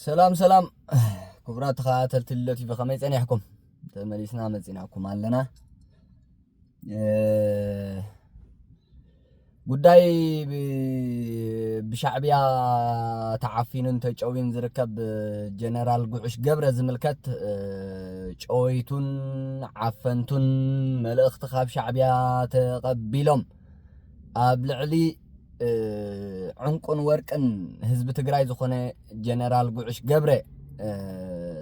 ሰላም ሰላም ክቡራት ተኸታተልቲ ልደት ቲቪ ከመይ ጸኒሕኩም? ተመሊስና መጺናኩም ኣለና። ጉዳይ ብሻዕብያ ተዓፊኑን ተጨውዩን ዝርከብ ጀነራል ጉዑሽ ገብረ ዝምልከት ጨወይቱን ዓፈንቱን መልእኽቲ ካብ ሻዕብያ ተቐቢሎም ኣብ ልዕሊ ዕንቁን ወርቅን ህዝቢ ትግራይ ዝኾነ ጀነራል ጉዕሽ ገብረ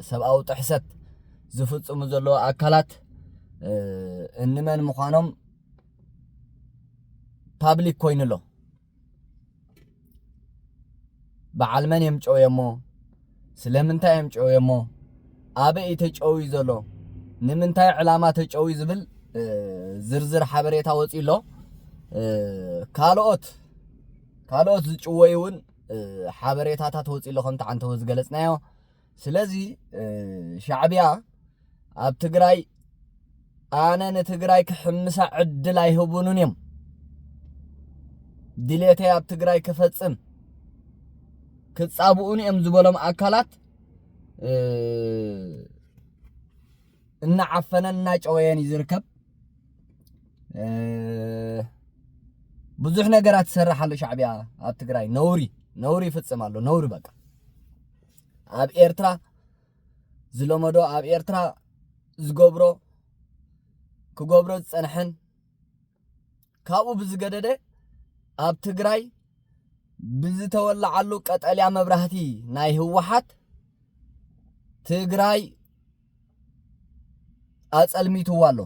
ሰብኣዊ ጥሕሰት ዝፍፅሙ ዘለዎ ኣካላት እንመን ምዃኖም ፓብሊክ ኮይኑ ኣሎ በዓል መን እዮም ጨውየሞ ስለምንታይ እዮም ጨውዮሞ? ኣበይ እዩ ተጨውዩ ዘሎ? ንምንታይ ዕላማ ተጨውዩ ዝብል ዝርዝር ሓበሬታ ወፂኡ ኣሎ። ካልኦት ካልኦት ዝጭወዩ እውን ሓበሬታታት ወፂኡ ኣሎ ከምቲ ዓንተቦ ዝገለፅናዮ ስለዚ ሻዕቢያ ኣብ ትግራይ ኣነ ንትግራይ ክሕምሳ ዕድል ኣይህቡንን እዮም ድሌተይ ኣብ ትግራይ ክፈጽም ክጻብኡን እዮም ዝበሎም ኣካላት እናዓፈነን እናጨወየን እዩ ዝርከብ ብዙሕ ነገራት ትሰርሕ ኣሎ ሻዕቢያ ኣብ ትግራይ ነውሪ ነውሪ ይፍጽም ኣሎ ነውሪ በቃ ኣብ ኤርትራ ዝለመዶ ኣብ ኤርትራ ዝገብሮ ክገብሮ ዝጸንሐን ካብኡ ብዝገደደ ኣብ ትግራይ ብዝተወላዓሉ ቀጠልያ መብራህቲ ናይ ህወሓት ትግራይ ኣጸልሚትዋ ኣሎ።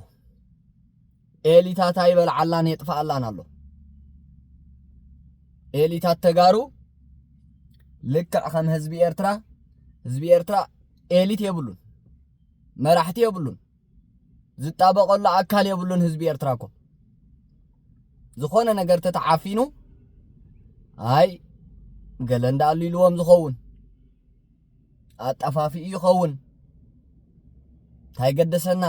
ኤሊታታ ይበልዓላን የጥፍኣላን ኣሎ። ኤሊታት ተጋሩ ልክዕ ከም ህዝቢ ኤርትራ ህዝቢ ኤርትራ ኤሊት የብሉን፣ መራሕቲ የብሉን፣ ዝጣበቐሉ ኣካል የብሉን። ህዝቢ ኤርትራ እኮ ዝኾነ ነገር ተተዓፊኑ ኣይ ገለ እንዳኣሉ ኢልዎም ዝኸውን ኣጠፋፊኡ ይኸውን እንታይ ገደሰና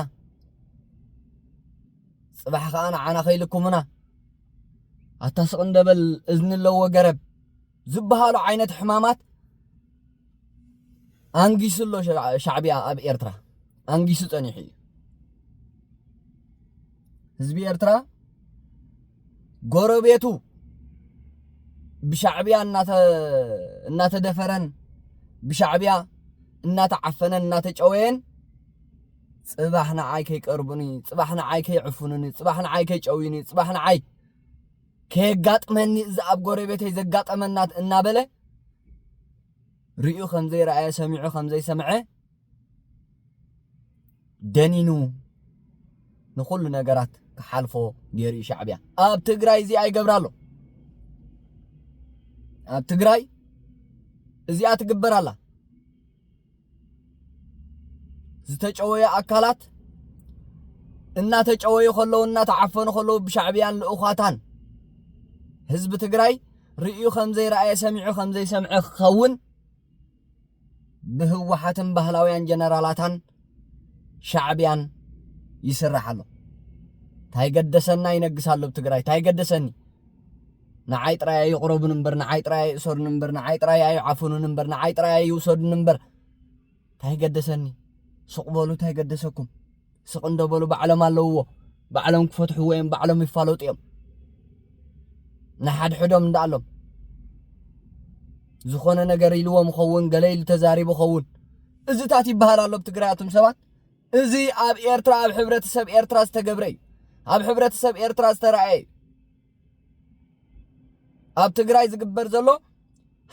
ጽባሕ ከዓ ንዓና ከይልኩምና ኣታ ስቕ እንደበል እዝኒ ኣለዎ ገረብ ዝበሃሉ ዓይነት ሕማማት ኣንጊሱ ኣሎ ሻዕብያ ኣብ ኤርትራ ኣንጊሱ ጸኒሑ እዩ። ህዝቢ ኤርትራ ጎረቤቱ ብሻዕብያ እናተደፈረን ብሻዕብያ እናተዓፈነን እናተጨወየን ጽባሕ ንዓይ ከይቀርቡኒ ጽባሕ ንዓይ ከይዕፍኑኒ ጽባሕ ንዓይ ከይጨውዩኒ ጽባሕ ንዓይ ከየጋጥመኒ እዚ ኣብ ጎረቤተይ ዘጋጠመናት እናበለ ርእዩ ከም ዘይረኣየ ሰሚዑ ከም ዘይሰምዐ ደኒኑ ንኹሉ ነገራት ክሓልፎ ገይሩ እዩ ሻዕብያ ኣብ ትግራይ እዚኣ ይገብራ ኣሎ ኣብ ትግራይ እዚኣ ትግበር ኣላ ዝተጨወየ ኣካላት እናተጨወዩ ከለዉ እናተዓፈኑ ከለዉ ብሻዕብያን ልእዃታን ህዝቢ ትግራይ ርእዩ ከም ዘይረኣየ ሰሚዑ ከም ዘይሰምዐ ክኸውን ብህወሓትን ባህላውያን ጀነራላታን ሻዕብያን ይስራሕ ኣሎ። ታይ ገደሰና ይነግስ ኣሎ ብትግራይ ታይ ገደሰኒ ንዓይ ጥራይ ኣይቕረቡን እምበር ንዓይ ጥራይ ኣይእሰሩን እምበር ንዓይ ጥራይ ኣይዓፍኑን እምበር ንዓይ ጥራይ ኣይውሰዱን እምበር ታይ ገደሰኒ ስቕ በሉ ታይ ገደሰኩም ስቅ እንዶ በሉ ባዕሎም ኣለውዎ ባዕሎም ክፈትሕዎ እዮም ባዕሎም ይፋለጡ እዮም ንሓድሕዶም እንዳኣሎም ዝኾነ ነገር ኢልዎም ይኸውን ገለ ኢሉ ተዛሪቡ ይኸውን እዚታት ይበሃል ኣሎ ብ ትግራይ ኣቱም ሰባት እዚ ኣብ ኤርትራ ኣብ ሕብረተሰብ ኤርትራ ዝተገብረ እዩ ኣብ ሕብረተሰብ ኤርትራ ዝተረኣየ እዩ ኣብ ትግራይ ዝግበር ዘሎ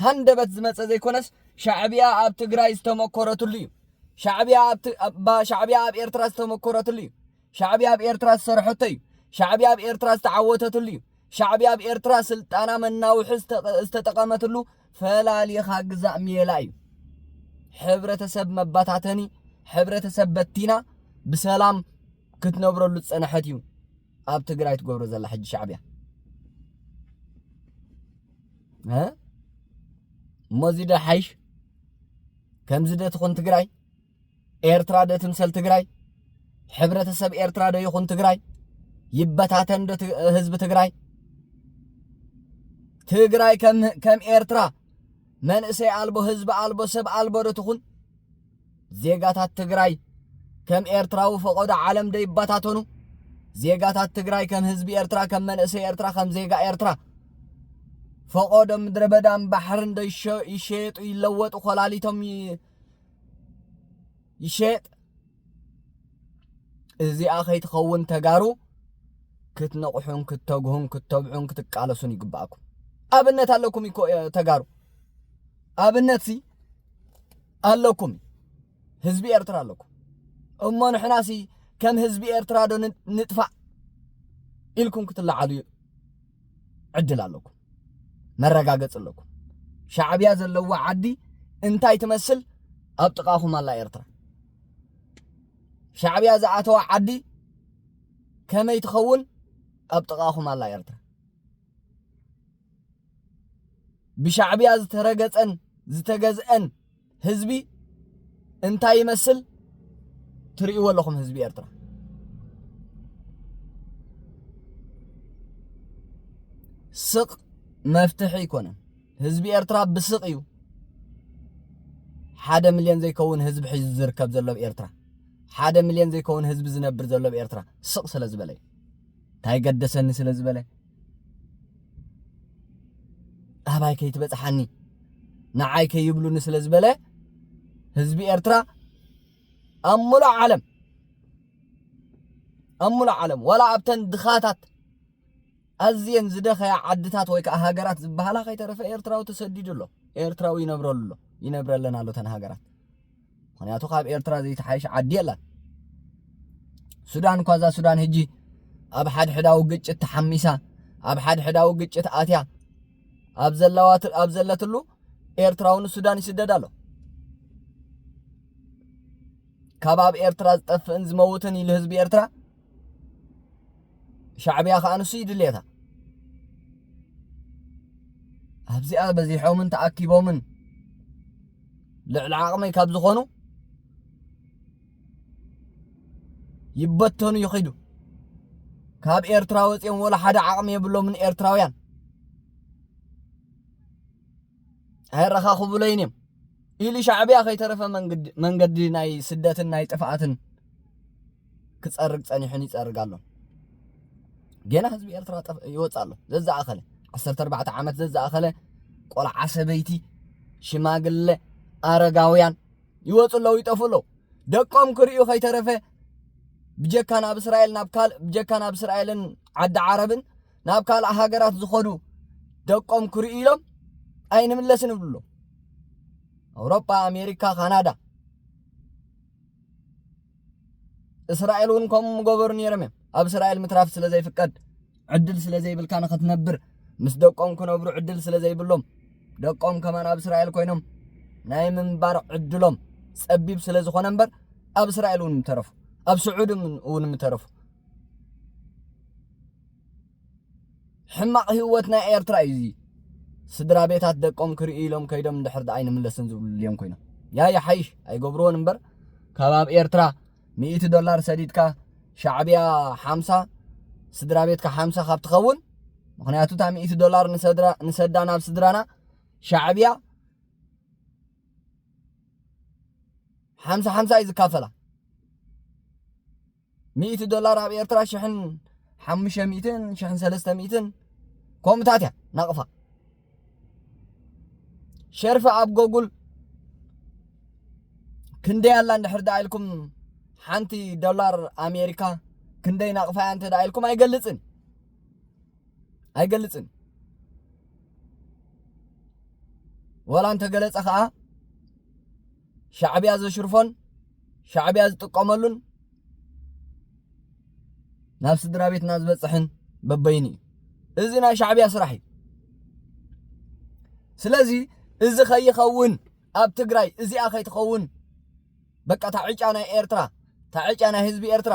ሃንደበት ዝመፀ ዘይኮነስ ሻዕብያ ኣብ ትግራይ ዝተመኮረትሉ እዩ ሻዕብያ ሻዕብያ ኣብ ኤርትራ ዝተመኮረትሉ እዩ ሻዕብያ ኣብ ኤርትራ ዝሰርሐቶ እዩ ሻዕብያ ኣብ ኤርትራ ዝተዓወተትሉ እዩ ሻዕብያ ኣብ ኤርትራ ስልጣና መናውሒ ዝተጠቐመትሉ ፈላሊኻ ግዛእ ሜላ እዩ ሕብረተሰብ መባታተኒ ሕብረተሰብ በቲና ብሰላም ክትነብረሉ ዝፀንሐት እዩ ኣብ ትግራይ ትገብሮ ዘላ ሕጂ ሻዕብያ እሞዚ ዶ ሓይሽ ከምዚ ዶ ትኹን ትግራይ ኤርትራ ዶ ትምሰል ትግራይ ሕብረተሰብ ኤርትራ ዶ ይኹን ትግራይ ይበታተን ዶ ህዝቢ ትግራይ ትግራይ ከም ኤርትራ መንእሰይ ኣልቦ ህዝቢ ኣልቦ ሰብ ኣልቦ ዶ ትኹን ዜጋታት ትግራይ ከም ኤርትራዊ ፈቐዶ ዓለም ዶ ይበታተኑ? ዜጋታት ትግራይ ከም ህዝቢ ኤርትራ፣ ከም መንእሰይ ኤርትራ፣ ከም ዜጋ ኤርትራ ፈቐዶ ምድረ በዳን ባሕርን ዶ ይሸየጡ፣ ይለወጡ፣ ኮላሊቶም ይሸየጥ? እዚኣ ከይትኸውን ተጋሩ ክትነቕሑን ክተግሁን ክተብዑን ክትቃለሱን ይግባእኩም። ኣብነት ኣለኩም እኮ ተጋሩ ኣብነት ሲ ኣለኩም ህዝቢ ኤርትራ ኣለኩም እሞ ንሕናሲ ከም ህዝቢ ኤርትራ ዶ ንጥፋእ ኢልኩም ክትለዓሉ ዕድል ኣለኩም መረጋገፂ ኣለኩም ሻዕብያ ዘለዋ ዓዲ እንታይ ትመስል ኣብ ጥቓኹም ኣላ ኤርትራ ሻዕብያ ዝኣተዋ ዓዲ ከመይ ትኸውን ኣብ ጥቓኹም ኣላ ኤርትራ ብሻዕብያ ዝተረገጸን ዝተገዝአን ህዝቢ እንታይ ይመስል ትርእይዎ ኣለኹም ህዝቢ ኤርትራ ስቕ መፍትሒ ኣይኮነን ህዝቢ ኤርትራ ብስቕ እዩ ሓደ ሚልዮን ዘይከውን ህዝቢ ሒዙ ዝርከብ ዘሎ ኣብ ኤርትራ ሓደ ሚልዮን ዘይከውን ህዝቢ ዝነብር ዘሎ ኣብ ኤርትራ ስቕ ስለ ዝበለ እዩ እንታይ ገደሰኒ ስለ ዝበለ ኣህባይ ከይትበጽሓኒ ንዓይ ከይብሉኒ ስለ ዝበለ ህዝቢ ኤርትራ ኣብ ሙሉእ ዓለም ኣብ ሙሉእ ዓለም ዋላ ኣብተን ድኻታት ኣዝየን ዝደኸያ ዓድታት ወይ ከዓ ሃገራት ዝበሃላ ከይተረፈ ኤርትራዊ ተሰዲዱ ኣሎ ኤርትራዊ ይነብረሉ ኣሎ ይነብረለን ኣሎ ተን ሃገራት ምክንያቱ ካብ ኤርትራ ዘይተሓይሽ ዓዲ የላን ሱዳን እኳ እዛ ሱዳን ህጂ ኣብ ሓድሕዳዊ ግጭት ተሓሚሳ ኣብ ሓድሕዳዊ ግጭት ኣትያ ኣብ ዘለዋት ኣብ ዘለትሉ ኤርትራዊ ንሱዳን ይስደድ ኣሎ ካብ ኣብ ኤርትራ ዝጠፍእን ዝመውትን ኢሉ ህዝቢ ኤርትራ ሻዕብያ ከዓ ንሱ ይድልየካ ኣብዚኣ በዚሖምን ተኣኪቦምን ልዕሊ ዓቕመይ ካብ ዝኾኑ ይበተኑ ይኺዱ ካብ ኤርትራ ወፂኦም ወላ ሓደ ዓቕሚ የብሎምን ኤርትራውያን ኣየረኻኽቡለይን እዮም ኢሉ ሻዕብያ ከይተረፈ መንገዲ ናይ ስደትን ናይ ጥፍኣትን ክጸርግ ጸኒሑን ይጸርግ ኣሎ ገና ህዝቢ ኤርትራ ይወጽእ ኣሎ ዘዝኣኸለ 14 ዓመት ዘዝኣኸለ ቆልዓ ሰበይቲ ሽማግለ ኣረጋውያን ይወጹ ኣለዉ ይጠፉ ኣለዉ ደቆም ክርእዩ ከይተረፈ ብጀካ ናብ እስራኤል ናብ ካልእ ብጀካ ናብ እስራኤልን ዓዲ ዓረብን ናብ ካልእ ሃገራት ዝኸዱ ደቆም ክርእዩ ኢሎም ኣይንምለስን ይብሉ ኣለዉ ኣውሮጳ ኣሜሪካ ካናዳ እስራኤል እውን ከምኡ ምገበሩ ነይሮም እዮም ኣብ እስራኤል ምትራፍ ስለ ዘይፍቀድ ዕድል ስለ ዘይብልካ ንኽትነብር ምስ ደቆም ክነብሩ ዕድል ስለ ዘይብሎም ደቆም ከማን ኣብ እስራኤል ኮይኖም ናይ ምንባር ዕድሎም ጸቢብ ስለ ዝኾነ እምበር ኣብ እስራኤል እውን ምተረፉ ኣብ ስዑድ እውን ምተረፉ ሕማቕ ህይወት ናይ ኤርትራ እዩ እዚ። ስድራ ቤታት ደቆም ክርእዩ ኢሎም ከይዶም እንድሕር ደኣ ኣይንምለስን ዝብሉ ድልዮም ኮይኖም ያ ይሓይሽ ኣይገብርዎን እምበር ካብ ኣብ ኤርትራ ሚእቲ ዶላር ሰዲድካ ሻዕብያ ሓምሳ ስድራ ቤትካ ሓምሳ ካብ ትኸውን ምክንያቱ እታ ሚእቲ ዶላር ንሰዳ ናብ ስድራና ሻዕብያ ሓምሳ ሓምሳ እዩ ዝካፈላ ሚእቲ ዶላር ኣብ ኤርትራ ሽሕን ሓሙሽተ ሚእትን ሽሕን ሰለስተ ሚእትን ከምኡታት እያ ናቕፋ ሸርፊ ኣብ ጎጉል ክንደይ ኣላ እንድሕር ደኣ ኢልኩም ሓንቲ ዶላር ኣሜሪካ ክንደይ ናቕፋያ እንተ ደኣ ኢልኩም ኣይገልጽን ኣይገልጽን ወላ እንተገለጸ ከዓ ሻዕብያ ዘሽርፎን ሻዕብያ ዝጥቀመሉን ናብ ስድራ ቤትና ዝበፅሕን በበይኑ እዩ እዚ ናይ ሻዕብያ ስራሕ እዩ ስለዚ እዚ ከይኸውን ኣብ ትግራይ እዚኣ ከይትኸውን በቃ ታዕጫ ናይ ኤርትራ ታዕጫ ናይ ህዝቢ ኤርትራ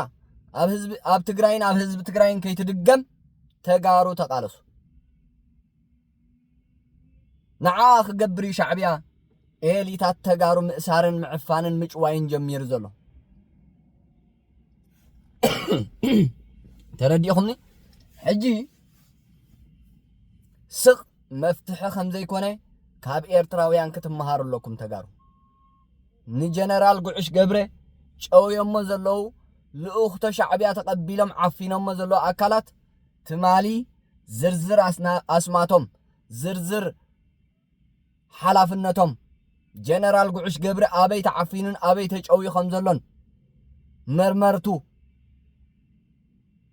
ኣብ ህዝቢ ኣብ ትግራይን ኣብ ህዝቢ ትግራይን ከይትድገም ተጋሩ ተቃለሱ ንዓ ክገብር እዩ ሻዕብያ ኤሊታት ተጋሩ ምእሳርን ምዕፋንን ምጭዋይን ጀሚሩ ዘሎ ተረዲእኹምኒ ሕጂ ስቕ መፍትሒ ከም ዘይኮነ ካብ ኤርትራውያን ክትመሃሩ ኣለኩም ተጋሩ ንጀነራል ጉዕሽ ገብረ ጨውዮሞ ዘለዉ ልኡኽቶ ሻዕብያ ተቐቢሎም ዓፊኖሞ ዘለዉ ኣካላት ትማሊ ዝርዝር ኣስማቶም፣ ዝርዝር ሓላፍነቶም፣ ጀነራል ጉዕሽ ገብሪ ኣበይ ተዓፊኑን ኣበይ ተጨውዩ ከም ዘሎን መርመርቱ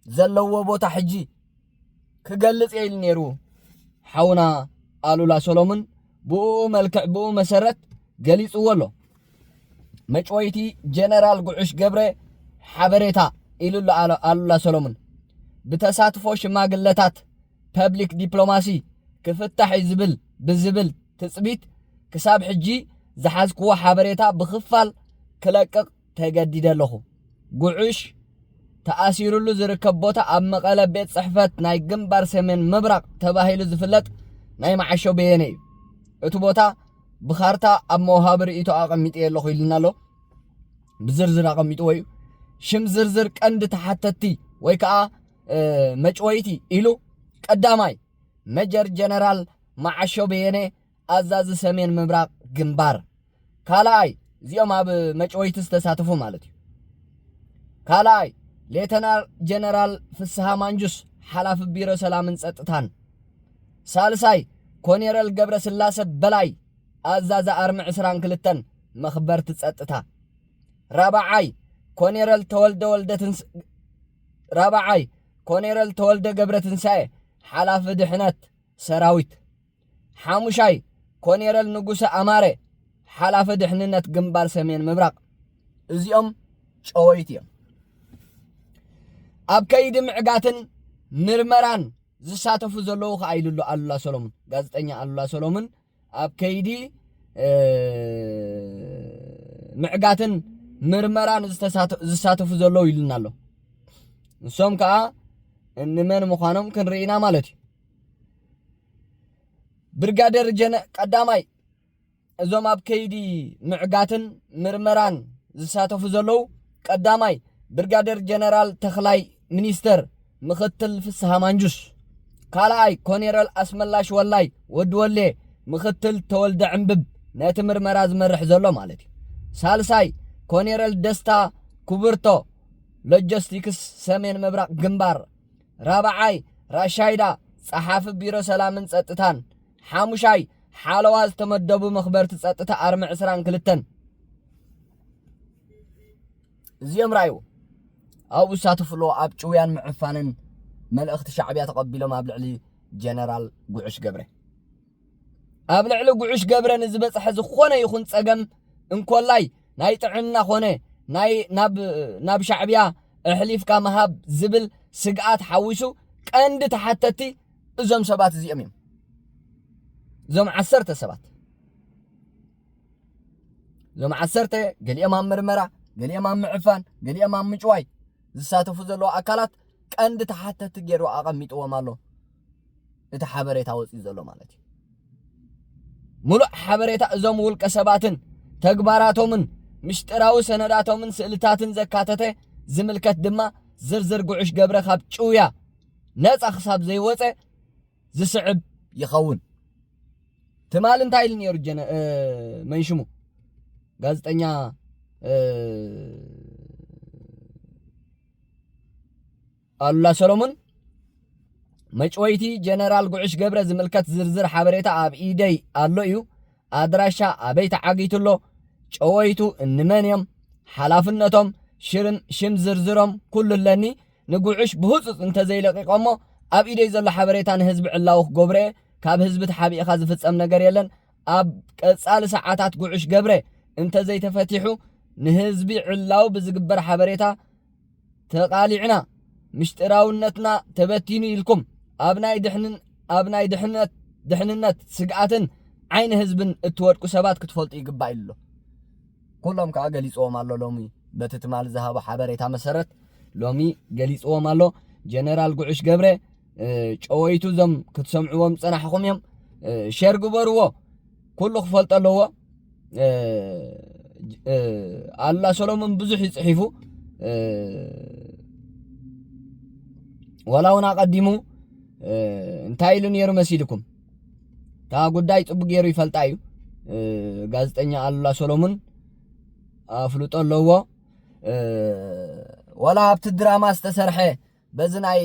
ዘለዎ ቦታ ሕጂ ክገልጽ እየ ኢሉ ነይሩ ሓውና ኣሉላ ሰሎሙን ብኡ መልክዕ ብኡ መሰረት ገሊጽዎ ኣሎ። መጭወይቲ ጀነራል ጉዑሽ ገብረ ሓበሬታ ኢሉ ኣሎ ኣሉላ ሰሎሙን። ብተሳትፎ ሽማግለታት ፐብሊክ ዲፕሎማሲ ክፍታሕ እዩ ዝብል ብዝብል ትፅቢት ክሳብ ሕጂ ዝሓዝክዎ ሓበሬታ ብኽፋል ክለቅቕ ተገዲደ ኣለኹ። ጉዕሽ፣ ተኣሲሩሉ ዝርከብ ቦታ ኣብ መቐለ ቤት ጽሕፈት ናይ ግንባር ሰሜን ምብራቕ ተባሂሉ ዝፍለጥ ናይ መዓሾ በየነ እዩ። እቲ ቦታ ብካርታ ኣብ መውሃቢ ርእይቶ ኣቐሚጥየ ኣለኹ ኢሉና ኣሎ። ብዝርዝር ኣቐሚጥዎ እዩ። ሽም ዝርዝር ቀንዲ ተሓተትቲ ወይ ከዓ መጭወይቲ ኢሉ ቀዳማይ መጀር ጀነራል መዓሾ በየነ ኣዛዚ ሰሜን ምብራቕ ግንባር ካልኣይ እዚኦም ኣብ መጭወይቲ ዝተሳተፉ ማለት እዩ ካልኣይ ሌተናል ጀነራል ፍስሃ ማንጁስ ሓላፊ ቢሮ ሰላምን ጸጥታን ሳልሳይ ኮኔረል ገብረ ስላሰ በላይ ኣዛዚ ኣርሚ ዕስራን ክልተን መኽበርቲ ጸጥታ ራብዓይ ኮኔረል ተወልደ ወልደ ትንስ ራብዓይ ኮኔረል ተወልደ ገብረ ትንሳኤ ሓላፊ ድሕነት ሰራዊት ሓሙሻይ፣ ኮኔረል ንጉሰ ኣማረ፣ ሓላፊ ድሕንነት ግንባር ሰሜን ምብራቕ። እዚኦም ጨወይቲ እዮም። ኣብ ከይዲ ምዕጋትን ምርመራን ዝሳተፉ ዘለዉ ከዓ ኢሉ ኣሎ ኣሉላ ሰሎሙን። ጋዜጠኛ ኣሉላ ሰሎሙን ኣብ ከይዲ ምዕጋትን ምርመራን ዝሳተፉ ዘለዉ ኢሉና ኣሎ። ንሶም ከዓ እንመን ምዃኖም ክንርኢና ማለት እዩ። ብርጋደር ጀነ ቀዳማይ እዞም ኣብ ከይዲ ምዕጋትን ምርመራን ዝሳተፉ ዘለዉ ቀዳማይ ብርጋደር ጀነራል ተኽላይ ሚኒስተር ምክትል ፍስሃ ማንጁስ ካልኣይ ኮኔረል ኣስመላሽ ወላይ ወዲ ወሌ ምክትል ተወልደ ዕምብብ ነቲ ምርመራ ዝመርሕ ዘሎ ማለት እዩ ሳልሳይ ኮኔረል ደስታ ኩብርቶ ሎጂስቲክስ ሰሜን ምብራቕ ግንባር ራብዓይ፣ ራሻይዳ፣ ጸሓፊ ቢሮ ሰላምን ጸጥታን። ሓሙሻይ፣ ሓለዋ ዝተመደቡ መኽበርቲ ጸጥታ ኣርሚ ዕስራን ክልተን። እዚኦም ርኣይዎ ኣብኡ ዝሳተፉ ኣለዎ ኣብ ጭውያን ምዕፋንን መልእኽቲ ሻዕብያ ተቐቢሎም ኣብ ልዕሊ ጀነራል ጉዕሽ ገብረ ኣብ ልዕሊ ጉዑሽ ገብረ ንዝበፅሐ ዝኾነ ይኹን ፀገም እንኮላይ ናይ ጥዕና ኮነ ናይ ናብ ሻዕብያ ኣሕሊፍካ ምሃብ ዝብል ስግኣት ሓዊሱ ቀንዲ ተሓተቲ እዞም ሰባት እዚኦም እዮም እዞም ዓሰርተ ሰባት እዞም ዓሰርተ ገሊኦም ኣብ ምርመራ ገሊኦም ኣብ ምዕፋን ገሊኦም ኣብ ምጭዋይ ዝሳተፉ ዘለዉ ኣካላት ቀንዲ ተሓተቲ ገይሩ ኣቐሚጥዎም ኣሎ እቲ ሓበሬታ ወፂኡ ዘሎ ማለት እዩ። ምሉእ ሓበሬታ እዞም ውልቀ ሰባትን ተግባራቶምን ምስጢራዊ ሰነዳቶምን ስእልታትን ዘካተተ ዝምልከት ድማ ዝርዝር ጉዕሽ ገብረ ካብ ጭውያ ነፃ ክሳብ ዘይወፀ ዝስዕብ ይኸውን ትማል እንታይ ኢሉ ነይሩ ጀነ መንሽሙ ጋዜጠኛ ኣሉላ ሰሎሙን መጭወይቲ ጀነራል ጉዕሽ ገብረ ዝምልከት ዝርዝር ሓበሬታ ኣብ ኢደይ ኣሎ እዩ። ኣድራሻ ኣበይ ተዓጊቱ ኣሎ፣ ጨወይቱ እንመን እዮም፣ ሓላፍነቶም፣ ሽርም ሽም ዝርዝሮም ኩሉ ኣለኒ። ንጉዕሽ ብህጹጽ እንተዘይለቂቖሞ ኣብ ኢደይ ዘሎ ሓበሬታ ንህዝቢ ዕላዊ ክገብሮ እየ። ካብ ህዝቢ ተሓቢእኻ ዝፍጸም ነገር የለን። ኣብ ቀጻሊ ሰዓታት ጉዕሽ ገብረ እንተዘይተፈቲሑ ንህዝቢ ዕላዊ ብዝግበር ሓበሬታ ተቃሊዕና ምሽጥራውነትና ተበቲኑ ኢልኩም ኣብ ናይ ድሕንን ኣብ ናይ ድሕነት ድሕንነት ስግኣትን ዓይኒ ህዝብን እትወድቁ ሰባት ክትፈልጡ ይግባእ ኢሉ ኩሎም ከዓ ገሊፅዎም ኣሎ ሎሚ በቲ ትማሊ ዝሃቦ ሓበሬታ መሰረት ሎሚ ገሊፅዎም ኣሎ ጀነራል ጉዑሽ ገብረ ጨወይቱ እዞም ክትሰምዕዎም ዝፀናሕኹም እዮም ሸር ግበርዎ ኩሉ ክፈልጦ ኣለዎ ኣላ ሰሎሞን ብዙሕ እዩ ጽሒፉ ዋላ እውን ኣቐዲሙ እንታይ ኢሉ ነይሩ መሲልኩም እታ ጉዳይ ጽቡቅ ገይሩ ይፈልጣ እዩ ጋዜጠኛ ኣሉላ ሰሎሙን ኣፍልጦ ኣለዎ ዋላ ኣብቲ ድራማ ዝተሰርሐ በዚ ናይ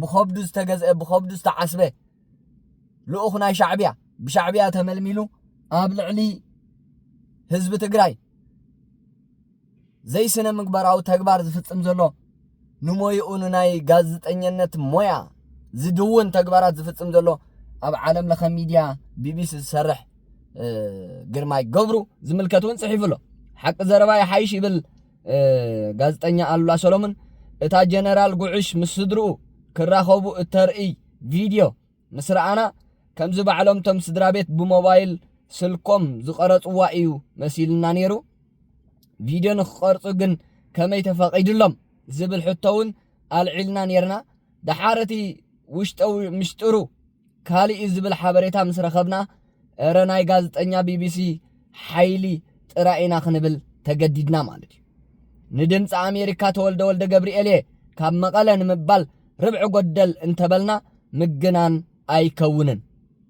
ብኸብዱ ዝተገዝአ ብኸብዱ ዝተዓስበ ልኡኽ ናይ ሻዕብያ ብሻዕብያ ተመልሚሉ ኣብ ልዕሊ ህዝቢ ትግራይ ዘይስነ ምግባራዊ ተግባር ዝፍጽም ዘሎ ንሞይኡ ንናይ ጋዜጠኝነት ሞያ ዝድውን ተግባራት ዝፍጽም ዘሎ ኣብ ዓለም ለኸ ሚድያ ቢቢሲ ዝሰርሕ ግርማይ ገብሩ ዝምልከት እውን ጽሒፉ ኣሎ ሓቂ ዘረባ ይሓይሽ ይብል ጋዜጠኛ ኣሉላ ሰሎሙን፣ እታ ጀነራል ጉዕሽ ምስ ስድርኡ ክራኸቡ እተርእይ ቪድዮ ምስ ረኣና፣ ከምዚ ባዕሎም'ቶም ስድራቤት ብሞባይል ስልኮም ዝቐረጽዋ እዩ መሲሉና ነይሩ። ቪድዮ ንኽቐርጹ ግን ከመይ ተፈቒዱሎም? ዝብል ሕቶ'ውን ኣልዒልና ነይርና። ደሓር እቲ ውሽጠዊ ምስጢሩ ካልእ'ዩ ዝብል ሓበሬታ ምስ ረኸብና፣ እረ ናይ ጋዝጠኛ ቢቢሲ ሓይሊ ጥራይ ኢና ክንብል ተገዲድና ማለት እዩ። ንድምጺ ኣሜሪካ ተወልደ ወልደገብርኤል እየ ካብ መቐለ ንምባል ርብዒ ጎደል እንተበልና ምግናን ኣይከውንን።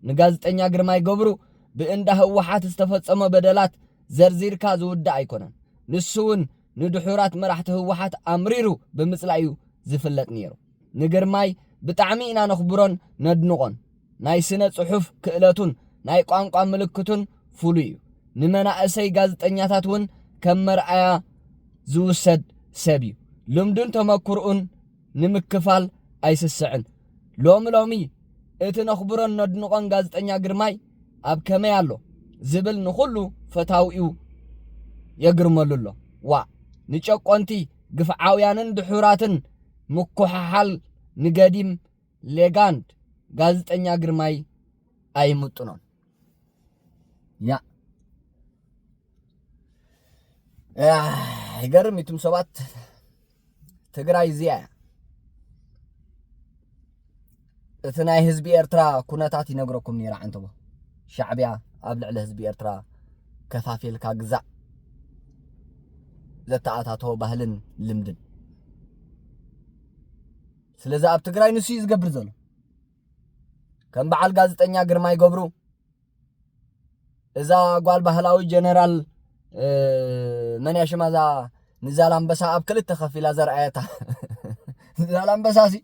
ንጋዝጠኛ ግርማይ ገብሩ ብእንዳ ህወሓት ዝተፈጸሞ በደላት ዘርዚርካ ዝውዳእ ኣይኮነን። ንሱውን ንድሑራት መራሕቲ ህወሓት ኣምሪሩ ብምጽላእዩ ዝፍለጥ ነይሩ። ንግርማይ ብጣዕሚ ኢና ነኽብሮን ነድንቖን። ናይ ስነ ጽሑፍ ክእለቱን ናይ ቋንቋ ምልክቱን ፍሉይ እዩ። ንመናእሰይ ጋዝጠኛታት እውን ከም መርኣያ ዝውሰድ ሰብ እዩ። ልምዱን ተመኩርኡን ንምክፋል ኣይስስዕን። ሎሚ ሎሚ እቲ ነኽብሮን ነድንቖን ጋዝጠኛ ግርማይ ኣብ ከመይ ኣሎ ዝብል ንኹሉ ፈታዊኡ የግርመሉ ኣሎ። ዋእ! ንጨቆንቲ፣ ግፍዓውያንን ድሑራትን ምኩሕሓል ንገዲም ሌጋንድ ጋዝጠኛ ግርማይ ኣይምጥኖን ያ ይገርም እዩ ትም ሰባት ትግራይ እዚኣ እያ እቲ ናይ ህዝቢ ኤርትራ ኩነታት ይነግረኩም ነይረ ዓንተቦ ሻዕቢያ ኣብ ልዕሊ ህዝቢ ኤርትራ ከፋፊልካ ግዛእ ዘተኣታተወ ባህልን ልምድን ስለዚ ኣብ ትግራይ ንሱ እዩ ዝገብር ዘሎ ከም በዓል ጋዜጠኛ ግርማይ ገብሩ እዛ ጓል ባህላዊ ጀነራል መን እያ ሽማ እዛ ንዛላምበሳ ኣብ ክልተ ከፊላ ዘርኣየታ ዛላምበሳ ሲ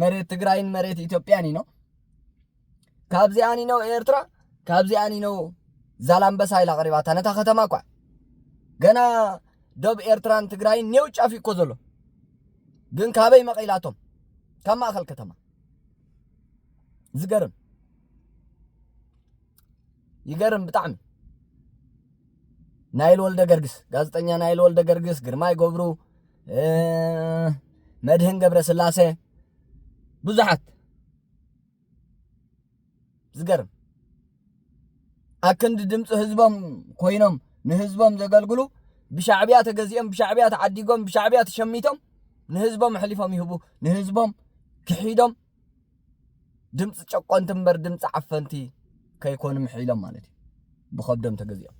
መሬት ትግራይን መሬት ኢትዮጵያን እዩ ካብዚኣን እዩ ነው ኤርትራ ካብዚኣን እዩ ነው ዛላምበሳ ኢላ ቀሪባታ ነታ ከተማ እኳ ገና ዶብ ኤርትራን ትግራይን ኔው ጫፍ እኮ ዘሎ ግን ካበይ መቒላቶም ካብ ማእኸል ከተማ ዝገርም ይገርም ብጣዕሚ ናይል ወልደ ገርግስ ጋዜጠኛ ናይል ወልደ ገርግስ ግርማይ ገብሩ መድህን ገብረ ስላሴ ብዙሓት ዝገርም ኣክንዲ ድምፂ ህዝቦም ኮይኖም ንህዝቦም ዘገልግሉ ብሻዕብያ ተገዚኦም ብሻዕብያ ተዓዲጎም ብሻዕብያ ተሸሚቶም ንህዝቦም ኣሕሊፎም ይህቡ ንህዝቦም ክሒዶም ድምፂ ጨቆንቲ እምበር ድምፂ ዓፈንቲ ከይኮኑ ምሕኢሎም ማለት እዩ ብከብዶም ተገዚኦም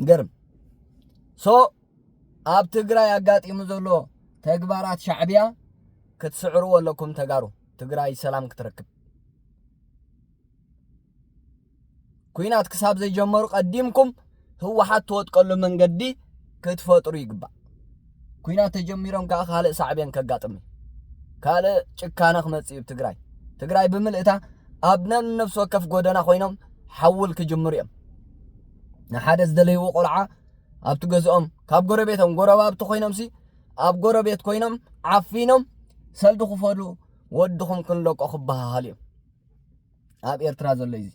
ገርም ሶ ኣብ ትግራይ ኣጋጢሙ ዘሎ ተግባራት ሻዕቢያ ክትስዕርዎ ኣለኩም ተጋሩ ትግራይ ሰላም ክትረክብ ኩናት ክሳብ ዘይጀመሩ ቀዲምኩም ህወሓት ትወጥቀሉ መንገዲ ክትፈጥሩ ይግባእ ኩናት ተጀሚሮም ከዓ ካልእ ሳዕቤን ከጋጥም እዩ ካልእ ጭካነ ክመፅእ እዩ ትግራይ ትግራይ ብምልእታ ኣብ ነብሲ ወከፍ ጎደና ኮይኖም ሓውል ክጅምሩ እዮም ንሓደ ዝደለይዎ ቆልዓ ኣብቲ ገዝኦም ካብ ጎረቤቶም ጎረባብቲ ኮይኖም ሲ ኣብ ጎረቤት ኮይኖም ዓፊኖም ሰልዲ ክፈሉ ወድኹም ክንለቆ ክበሃሃል እዮም ኣብ ኤርትራ ዘሎ እዩ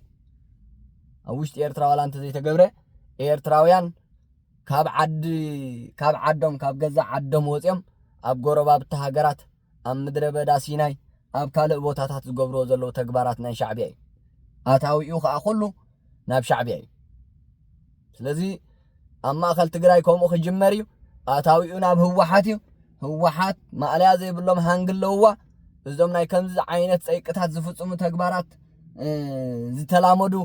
ኣብ ውሽጢ ኤርትራ ዋላ እንተዘይተገብረ ኤርትራውያን ካብ ዓዲ ካብ ዓዶም ካብ ገዛ ዓዶም ወፂኦም ኣብ ጎረባብቲ ሃገራት ኣብ ምድረ በዳ ሲናይ ኣብ ካልእ ቦታታት ዝገብርዎ ዘለዉ ተግባራት ናይ ሻዕብያ እዩ ኣታዊኡ ከዓ ኩሉ ናብ ሻዕብያ እዩ ስለዚ ኣብ ማእኸል ትግራይ ከምኡ ክጅመር እዩ ኣታዊኡ ናብ ህወሓት እዩ ህወሓት ማእለያ ዘይብሎም ሃንግ ኣለውዋ እዞም ናይ ከምዚ ዓይነት ፀይቅታት ዝፍፅሙ ተግባራት ዝተላመዱ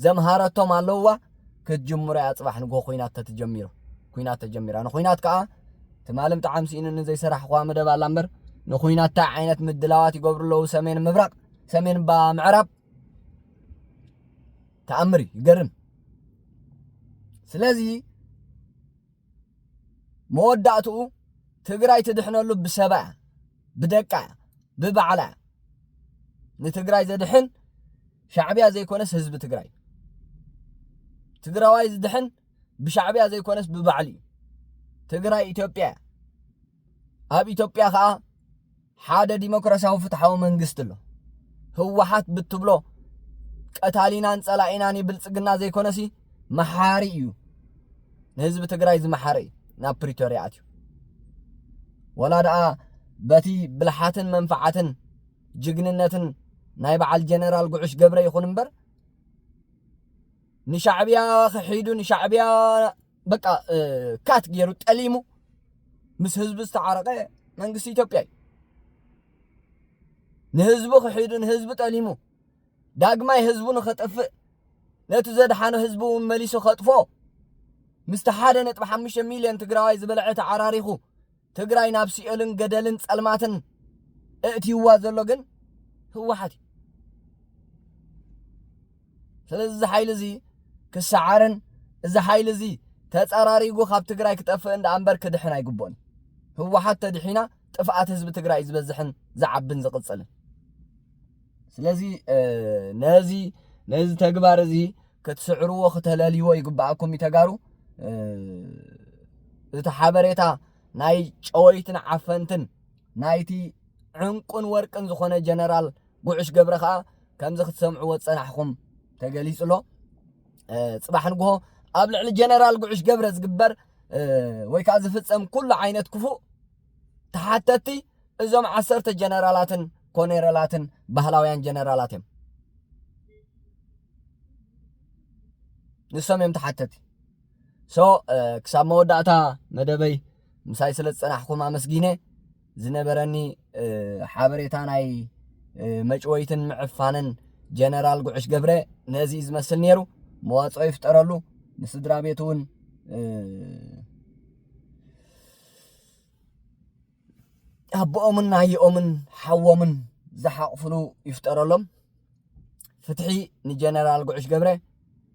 ዘምሃረቶም ኣለውዋ ክትጅምሮ እያ ፅባሕ ንጎ ኩናት ተትጀሚሩ ኩናት ተጀሚራ ንኩናት ከዓ ትማሊ ብጣዕሚ ስኢኑኒ ዘይሰራሕኳ መደብ ኣላ እምበር ንኩናት እንታይ ዓይነት ምድላዋት ይገብሩ ኣለዉ ሰሜን ምብራቕ ሰሜን ምዕራብ ተኣምር እዩ ይገርም ስለዚ መወዳእትኡ ትግራይ ትድሕነሉ ብሰባ እያ ብደቃ እያ ብባዕላ እያ ንትግራይ ዘድሕን ሻዕብያ ዘይኮነስ ህዝቢ ትግራይ ትግራዋይ ዝድሕን ብሻዕብያ ዘይኮነስ ብባዕሉ እዩ ትግራይ ኢትዮጵያ እያ ኣብ ኢትዮጵያ ከኣ ሓደ ዲሞክራሲያዊ ፍትሓዊ መንግስቲ ኣሎ ህወሓት ብትብሎ ቀታሊናን ጸላኢናን ብልጽግና ዘይኮነሲ መሓሪ እዩ ንህዝቢ ትግራይ ዝመሓረ እዩ ናብ ፕሪቶርያ ኣትዩ ወላ ደኣ በቲ ብልሓትን መንፈዓትን ጅግንነትን ናይ በዓል ጀነራል ጉዑሽ ገብረ ይኹን እምበር ንሻዕብያ ክሒዱ ንሻዕብያ በቃ ካት ገይሩ ጠሊሙ ምስ ህዝቢ ዝተዓረቐ መንግስቲ ኢትዮጵያ እዩ ንህዝቡ ክሒዱ ንህዝቢ ጠሊሙ ዳግማይ ህዝቡ ንኸጠፍእ ነቲ ዘድሓኖ ህዝቢ እውን መሊሱ ከጥፎ ምስቲ ሓደ ነጥቢ ሓሙሽተ ሚልዮን ትግራዋይ ዝበልዐ ተዓራሪኹ ትግራይ ናብ ሲኦልን ገደልን ጸልማትን እእትይዋ ዘሎ ግን ህወሓት እዩ ስለዚ እዚ ሓይሊ እዚ ክሰዓርን እዚ ሓይሊ እዚ ተጸራሪጉ ካብ ትግራይ ክጠፍእን ደኣ እምበር ክድሕን ኣይግብኦን ህወሓት ተድሒና ጥፍኣት ህዝቢ ትግራይ ዝበዝሕን ዝዓብን ዝቕጽልን ስለዚ ነዚ ነዚ ተግባር እዚ ክትስዕርዎ ክተለልይዎ ይግባኣኩም እዩ ተጋሩ እቲ ሓበሬታ ናይ ጨወይትን ዓፈንትን ናይቲ ዕንቁን ወርቅን ዝኾነ ጀነራል ጉዑሽ ገብረ ከዓ ከምዚ ክትሰምዕዎ ዝፀናሕኹም ተገሊፁ ኣሎ ፅባሕ ንግሆ ኣብ ልዕሊ ጀነራል ጉዑሽ ገብረ ዝግበር ወይ ከዓ ዝፍፀም ኩሉ ዓይነት ክፉእ ተሓተቲ እዞም ዓሰርተ ጀነራላትን ኮኔረላትን ባህላውያን ጀነራላት እዮም ንሶም እዮም ተሓተቲ ሶ ክሳብ መወዳእታ መደበይ ምሳይ ስለ ዝፀናሕኩም ኣመስጊነ ዝነበረኒ ሓበሬታ ናይ መጭወይትን ምዕፋንን ጀነራል ጉዕሽ ገብረ ነዚ ዝመስል ነይሩ መዋፅኦ ይፍጠረሉ ንስድራ ቤት እውን ኣቦኦምን ኣየኦምን ሓዎምን ዝሓቕፍሉ ይፍጠረሎም። ፍትሒ ንጀነራል ጉዕሽ ገብረ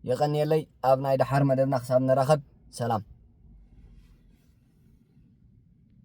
የቐንየለይ። ኣብ ናይ ደሓር መደብና ክሳብ ንራኸብ ሰላም።